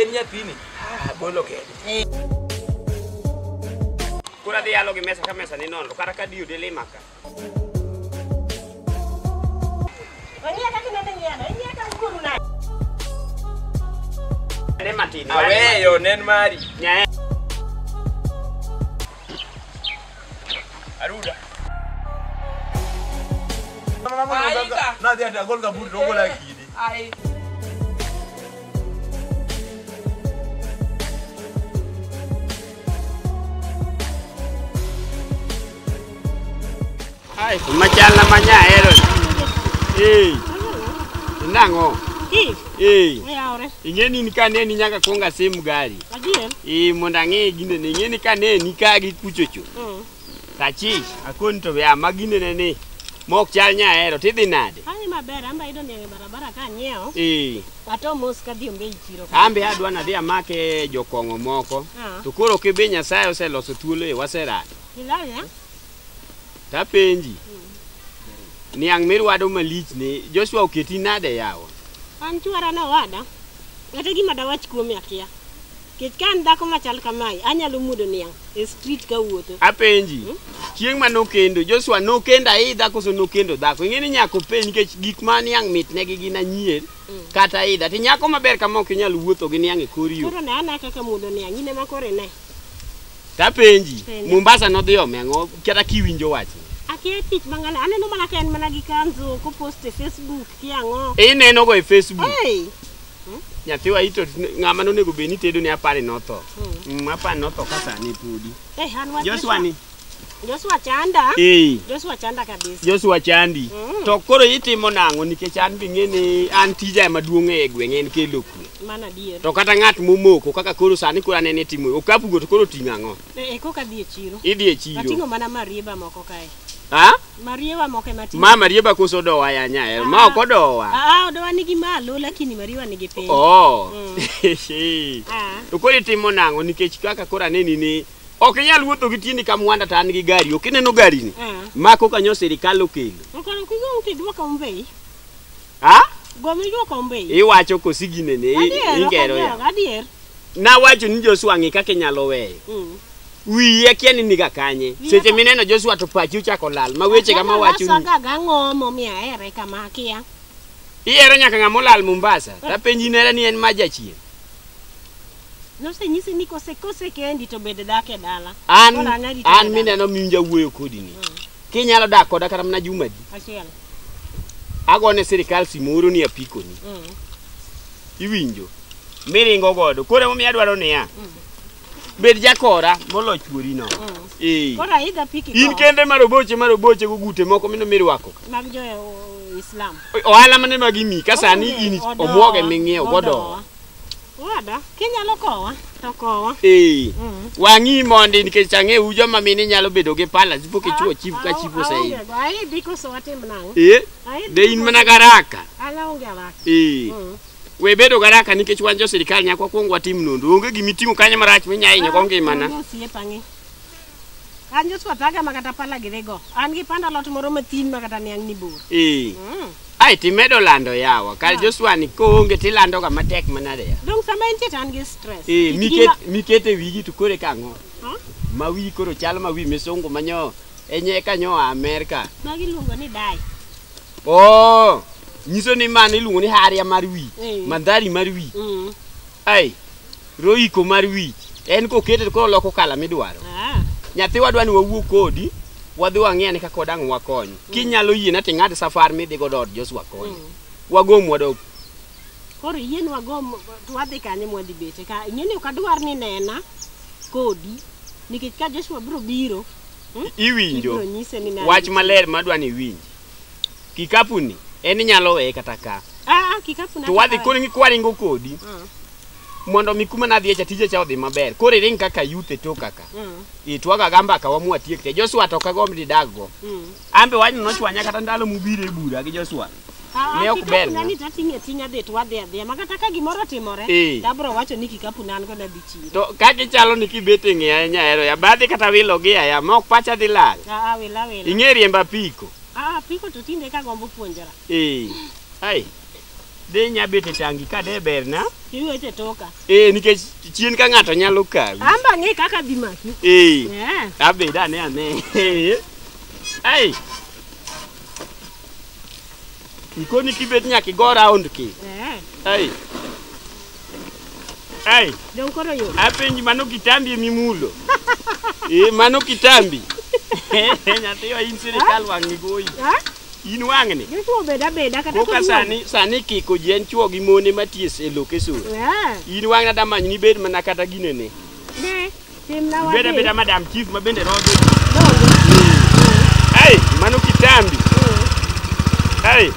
En nyathini. Ah, bolo kende. Kura dhi yalo gi mesa ka mesa ni nono, kata ka diyo dele maka. Wang'iya kaka ineno nyiano, ing'iya ka wuoru na. Ne matin. Aweyo nen mari. Nyae. Aruda. Aika. Na dia dia gol kaburi rogo la kidi. Ai. Ai, machal na manya ahero ni. Ei. Nang'o? Kich, Ei. oyawore. Ing'e ni ka ne ni nyaka kuong asim gari. Adier. Ee mondo ang'e gine ni ing'e ni ka ne ni ka gi kuchocho. Mm. Tachich akoni to ya ma gine ne ni. Mok chal nya ahero tidhi nade? Ai maber, amba idwa niang' e barabara ka anyiewo. Ee. Ato mos kadhi ombe i chiro. Ambe adwa nadhi amake jokong'o moko. Ah. To koro kibi Nyasaye oseloso thuolo e waserado. Ilal ya? Tapenji. Niang' mirwado malich ni Joshua oketi nade yawa? An chwara no wada. Kata gima dawach kuome akia. Kech ka an dhako machal kamae, anyalo mudo niang' e street ka wuotho. Apenji. Hmm? Chieng' ma nokendo, Joshua nokendo aidha koso nokendo dhako. Ing'e ni nyako penj nikech gik ma niang' mitne gi gin anyier hmm. kata aidha. Ti nyako maber kama ok inyal wuotho gi niang' e kor yo. Koro ne ana kaka mudo niang' in ema kore ne. Tapenji, Penja. Mombasa nodhi ome ang'o kata kiwinjo wachni? Akia tich mang'ale, aneno mana ka en mana gi kanzu kopost e Facebook ki ang'o. Ineno go e Facebook. Hey! Nyathiwa ito ng'ama nonego bed ni tedo ne apani notho. Mm, apani notho ka sani podi. Hey, an wach Joshua ni. Joshua chanda. Eh. Joshua chanda kabisa. Joshua chandi. Mm. To koro itimo nang'o nikech an bing'e ni an tija ema duong' e gweng' en kelo kwe. Mano adier. To kata ng'at momoko kaka koro sani koro anene timo okapu go to koro ting'o ang'o? Eh, eh kok adhi e chiro. Idhi e chiro. Ating'o mana marieba moko kae. Ha? Marieba moko ema ting'o. Ma marieba koso dowa ya nya. Eh, ma ah. ok odowa. Ah, ah, odowa nigi malo lakini marieba nigi piny. Oh. Mm. Ah. To koro itimo nang'o nikech kaka koro aneni ni ok inyal wuotho gi tiendi ka mwanda to an gi gari ok ineno garini ah. ma koka nyo sirikal okelo. Okano kigo uti duoka umbei. Ha? Gomi jo kombe. Iwacho kosi gine ne ingero ya. Adier. Na wacho ni Joshua ngi kake nyalo weyo. Mm. Wi ya kia ni niga kanye. Seche mineno Joshua to pachi uchako lal. Ma weche kama wacho ni. Sanga ga ngomo mi aere kama kia. Iero nyaka ngamo lal Mombasa. Ta penji nera ni en maja chien. No se nyisi ni kose kose kendi to bede dake dala. An, an mineno miunja wuyo kodi ni. Mm. Kinyalo dak koda kata mana juma di. Achiel. Agone sirikal simoro ni apikoni. Mm. Iwinjo. Miringo godo. Koro emomiyo adwaro niya. Mm. Bed jakora molo chuori no. Mm. Eh. Kora idha piki. In kende maroboche maroboche go gute moko mino mirwako. Mag jo Islam. Ohala mane magimi kasani in omwoge ming'iew godo. Wada, kinyalo kowa to kowa. Ee. Mm. Wang'i mondi nikech ang'eyu joma mine nyalo bedo gi pala zipo kichuo chief ka chief ose. Aonge go, ai diko so watim nang'o? Ee. Ai De in diko- mana garaka. An aonge alaka. Ee. Mm. We bedo garaka nikech wan jo sirkal nyaka wakwong watim nonro. Onge gimiting'o kanyo marach minya hinyo go ngimana. Onge osiepa ng'i. An Joshua Taga ma kata pala gidhigo. An gi panda lot moro mathin ma kata niang' ni bor. Ee. Mm. Ai timedo lando yawa. Kar Yeah. Joshua ni koonge tilando ga matek manade ya. Dong sama entie to an gi stress. Ee, Kit miket gima- mikete wigi to kore kang'o? Ha? Ma wi koro chal ma wi misungu manyo enye kanyo a Amerika. Magi luongo ni dai. Oh, nyiso ni mano iluongo ni haria mar wi, Ee. mandhari mar wi. Mm. Ai, roiko mar wich en kokete koro loko kala midwaro. Ah. Nyathi wadwa ni wawuo kodi wadhi wang'e ni kaka wadang' wakony. Mm. Kinyalo yie na ting'ad safar mi dhigo dot Josu wakony. Mm. Wagom wadok. Koro yie ni wagom wadhi kanye mwadhi bete ka ing'e ni ok adwar ni nena kodi nikech ka Joshua biro biro hmm? iwinjo wach maler madwa ni iwinji Kikapu ni en inyalo weye kata ka. Ah, ah, kikapu na. To wadhi koni ni kwaringo kodi. Mm. Mondo mi kuma na dhiye cha tije cha odhi maber. Kore ring kaka youth e toka ka. Mm. Itwaga gamba ka wamu atiek te. Joshua to kagom ni dago. Mm. Ambe wanyu no chwanya kata ndalo mubire bura gi Joshua. Ah, ne ok ber. Kikapu na ni tatinge tinya det wadhi adhi. Makata ka gimoro timore. Hey. Eh. Dabro wacho ni kikapu na an go na bich. to ka gichalo ni kibet e ng'eya ahinya ahero ya badhi kata wilo gi aya ma ok pacha dhi lal Ah, ah, wila wila. ing'e riemba piko Ah, piko to tinde ka gombo puonjora. ee ai dhi nya bet e tangi ka de berna Iwete toka. ee nikech chien ka ng'ato nyalo kawi Amba ng'e kaka dhi maki. ee Eh. abed ane ane ai Ikoni kibet nyaka igo round ki. Eh. Ai. Ai. Dong koro yo. Apenji mano kitambi mimulo. Eh mano kitambi. Nyathi wa in sirikal wang'ni goyi. Ha? In wang'ni. Joshua obed abeda kata Koka sani sani kiko ji en chwo gi mone maties e lokeson. Eh. In wang'na damanyni bed mana kata ginene. Ne. Timna Ibeda wadhi. beda madam chief ma bende rodhi. Hey, mano kitambi. Hey.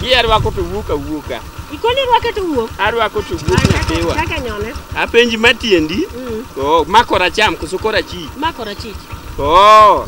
Hii arwako to wuok awuoka. Ikoni rwake to wuok. Arwako to wuok nyapiwa. Kaka nyone. Apenji matiendi. Mm. Oh, makora cham koso kora chi. Makora chich. Oh.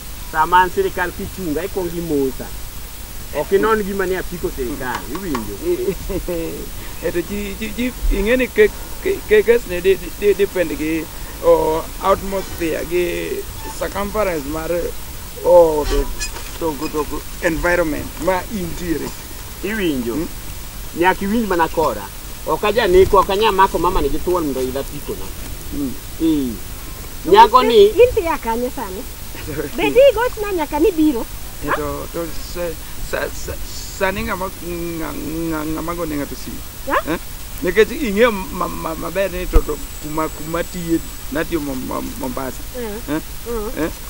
sama an sirikal kichunga ikwongo imosa ok inon gima ni apiko sirikal iwinjo eto ji ji ji ing'e ni ke- ke- ke- kes ni di- di- di- depend gi o, atmosphere gi circumference mar o, to, to, to environment ma intiere Iwinjo? Nyaka iwinj mana kora. Ok aja neko, ok anya mako mama ni githuon mondo ila pikona. Ee. Nyako ni In tiya kanye sani? Be di gochna nyaka ni biro? To to sa- sa- sa- sani ng'ama ng'a- ng'a- ng'ama go ne ng'ato simu. Ha? Eh? Nikech ing'eyo ma- ma- maber ni to to kuma kuma tiye natiyo Mom- Mom- Mombasa. Eh, Eh? eh. Eh?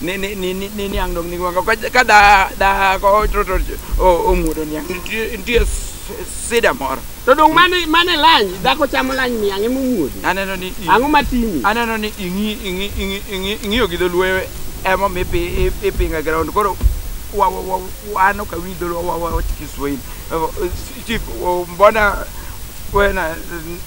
ni ni ni ni ni niang dong ni gua ka ka da da ko tro tro o o mudo niang ntie ntie s- sida moro To dong mane mane lany dhako chamo lany miang' ema omuodo. aneno ni i- Ang'o matimi? aneno ni ing'i ing'i ing'i ing'i ing'iyo gi dholuo ema mi pi i- ipinga ground koro wa wa wa wano ka wi dholuo wa wa wa Kiswahili Eh, chief oh, mbona wewe na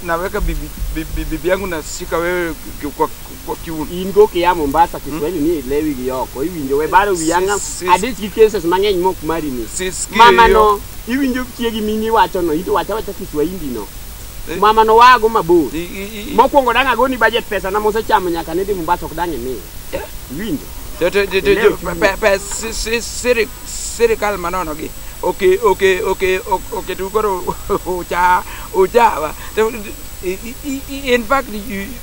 naweka bibi bibi bibi yangu na shika wewe kwa Fortune. In go kia Mombasa Kiswahili ni lewi gi oko iwinjo we baro wi anga Sis- sis- adich gi cases mang'eny mok mari ni. Sis Mama Kirio. no iwinjo chiegi mini wacho no ito wacha wacha Kiswahili no. Eh. Mama no wago mabor. I- i- i- Mokwongo dang' agoni budget pesa na mosechamo nyaka nidhi Mombasa ok dang' imiya. Iwinjo? to- to- to- to- Leo to- tu- pe- pe- si- si- siri- sirikal manono gi oke oke oke ok- oketu koro ucha uchawa To- i- i- i- in fact you-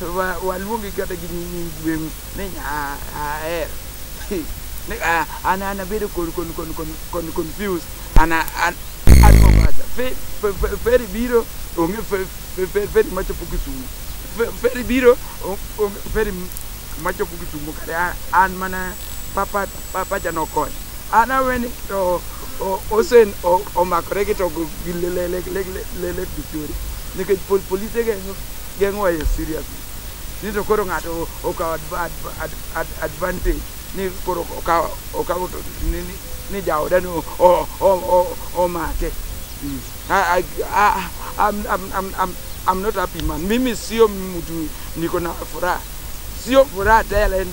Wa- waluongi kata gi nyi- nying gweng'u ni nya- aher Ni, ah, an an abedo kon- kon- kon- kon- kon- confused an an an mombasa Fe- fe- fe- feri biro onge fe- fe- fe- feri machopo kisumu Fe- feri biro o- onge feri m- machopo kisumu kare a- an mana papa papa janokony an aweni to o- osen o- omakore gi to gi lele lele lele lele bichori nikech pol- polise ge Geng'o e serious. Ni to koro ng'ato okawo advantage ni koro okawo okawo to ni ni, ni jaoda no omake. Mm. I, I, I'm, I'm, I'm, I'm, I'm not happy man. Mimi sio mtu niko na furaha, sio furaha tele,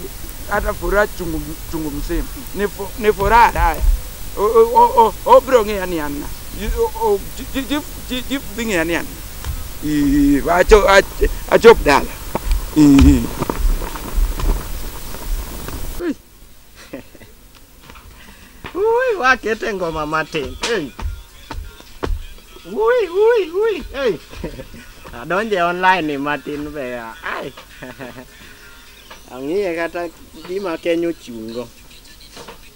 hata furaha chungu, chungu mzima ni, fu, ni furaha daya obro ng'eya ni anna Chi- chief dhi ng'eya ni an Ii, acho- ach- achop dala Ii. Ui, wakete ngoma matin. Hey. Ui, ui, ui. Hey. Adonje online ni matin be ya. Ai. Ang'iye kata gima Kenya ochungo.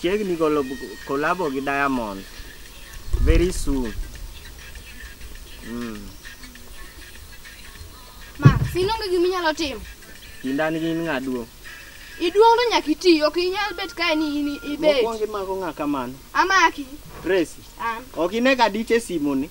chiegni golo kolabo gi Diamond very soon. Mm. Ma, sinonge gima inyalo timo. Kinda ni gin ng'a duong'? Iduong' to nyaka iti, ok inyal bet kae ni in ibet. Mokwongo imako ng'a kamano? Amaki. Tracy. An. Ok ine ka dich e simoni?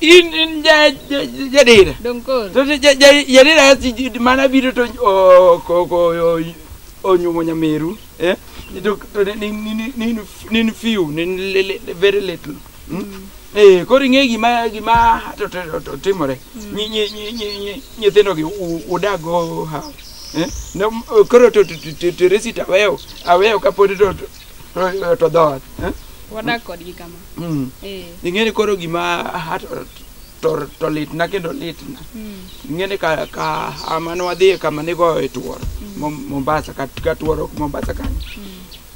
in in ja ja- jadera Dong koro. to ja- ja- ja- jadera si- ji- mana biro to o- ko- ko- o- onyuomo nyameru eh? to to ne- nin- nin- nin- nin few nin le- le- le- very little Mm. Eh, koro ing'e gima gima to- to- to- to- timore Nyi- nyi- nyi- nyi- nyi- nyithindogi u- udago ha eh? No, m- koro to to- to- to- to resi to aweyo aweyo kapod to to- Oyo to dhoot. eh? Wadak kodgi kama. Mm. Eh. Ing'eni koro gima ha- to- to- to litna kendo litna. Mm. Ing'eni ka ka ama ne wadhiye kama nigoye tuoro. Mom- Mombasa ka ka tuoro ok Mombasa kanyo.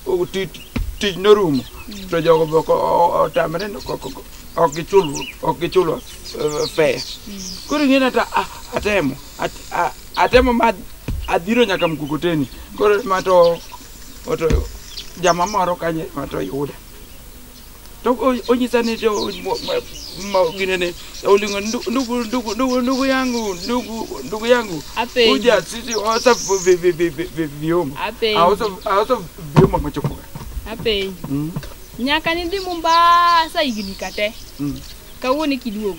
O- ti- Tich norumo. To jogo be ok o- o- otamre ni ok- ok- ok gichul ok gichulo eh, fare. Koro ing'eni ata a- atemo at- a- atemo ma adhiro nyaka Mkokoteni. Koro ma to oto jama moro kanye to yuda to onyisa ni gine ni olingo ndugu ndugu ndugu ndugu ndugu yangu ndugu ndugu yangu Ape. uja sisi osa vi- vi- vi- vi- vi- vyombo Ape. aosa aosa vyombo machokoka Apenyi. mm. Nyaka nidhi Mombasa higni ka te. Mm. Kawuono e kiduogo.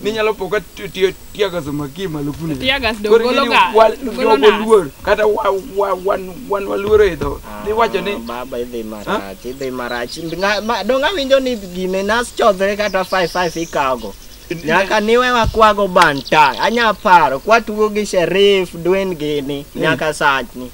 ninyalo po ka ti- ti- tiagas omaki malo kuno Tiagas do Koro golo ing'eni ga- wa- golo jogo nas. luor kata wa- wa- wan- wan waluoro idho niwacho ni Ah, baba idhi marach idhi marach Nga- ma- dong awinjo ni gine nas chodhre kata 55 ikawogo nyaka niwe wakwago banta anya paro kwatugo gi sherif dwen gini nyaka sachni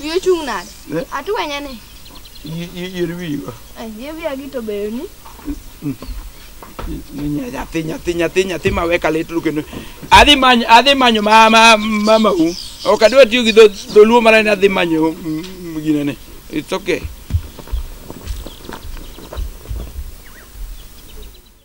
Wiye chung' nade? Eh? Atwenye ni. Yier wiwa. Eh, yier wiya gi to beyo ni. Nyathi, nyathi, nyathi, nyathi ma weka lit lu kendo. Adhi manyo, adhi manyo ma ma mama u. Ok adwa tiyo gi dholuo mara ni adhi manyo mm, mm, gina ni. It's okay.